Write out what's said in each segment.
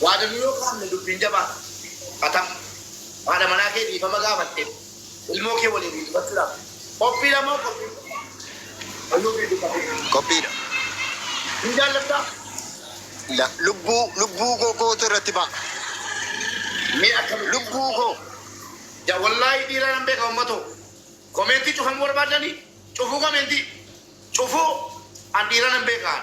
Waadanuu yoo kaafne dubbiin jabaa dha. Fatam, Haadha manaa kee dhiifama gaafatteef ilmoo kee waliin hiixbachuudhaaf qophiidha moo qophii hin qabne? Fayyoo fi Dukakee. Qophiidha. Hin jaallattaa? La, lubbuu, lubbuu koo kootu irratti ba'a. Mee akkamitti? Lubbuu koo! Ja, Wallaahi dhiira nan beeka ummatoo! Komeentii cufamuu barbaaddanii? Cufuu komeentii? Cufuu? An dhiira nan beeka an.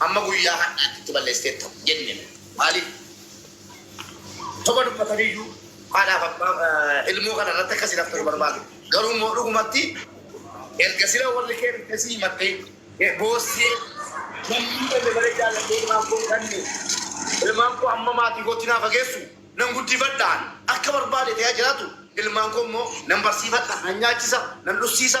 Amma guyyaa har'aatti itti balleessiteetta jenne. Maaliif? Soba dubbataniyyuu haadhaaf abbaa ilmoo kana irratti akka sinaftu hin barbaadu. Garuu immoo dhugumatti erga sila warri kee dhufte si himattee boossee namni kenne malee jaalladhee ilmaan koo hin kanne. Ilmaan koo amma maatii kootti naa fageessu. Nan guddifadha ani. Akka barbaade ta'ee haa jiraatu. Ilmaan koo immoo nan barsiifadha, nan nyaachisa, nan dhussiisa.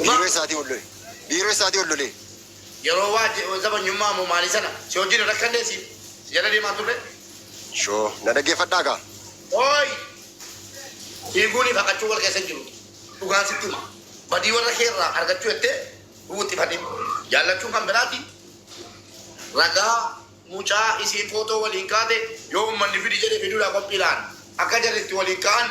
Biiroo isaatii ol lole. Biiroo isaatii ol lole. Yeroo waa je, zabanyummaa moo maalii sana? Si wajjin hin rakkannee si? Si jala deemaa hin turree? Shoo, na dhaggeeffadhaa kaa. Ooy! Fiiguunii fi haqachuun wal keessa hin jiru. Dhugaan sitti hima. Badii warra kee irraa argachuu jettee hin wuxxifatin. Jaallachuun kan biraati. Ragaa, mucaa isiin footoo waliin kaate yoo ummanni fidi jedhe fiduudhaa qophiidha an. Akka jarri itti waliin ka'an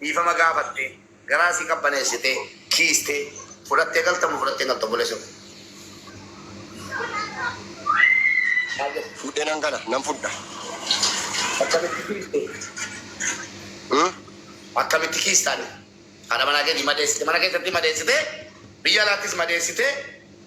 Dhiifama gaafatte, garaa si qabbaneessite, kiiste, fudhattee galta moo fudhattee hin galtu obboleessa koo? Maal jette? Fuudhee nan gala, nan fudha. Akkamitti kiiste? Hmm? Akkamitti kiista ati? Haadha manaa keetii madeessite, mana keessatti madeessite, biyya alaattis madeessite,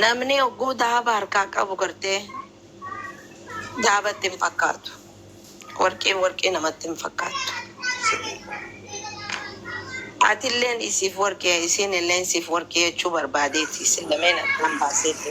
Namni ogguu dahaba harkaa qabu gartee dahaba itti hin fakkaatu. Warqiin warqii namatti hin fakkaattu. Atilleen isiif warqii isiinilleen siif warqii jechuu barbaadeeti isin lameen addaan baaseeti.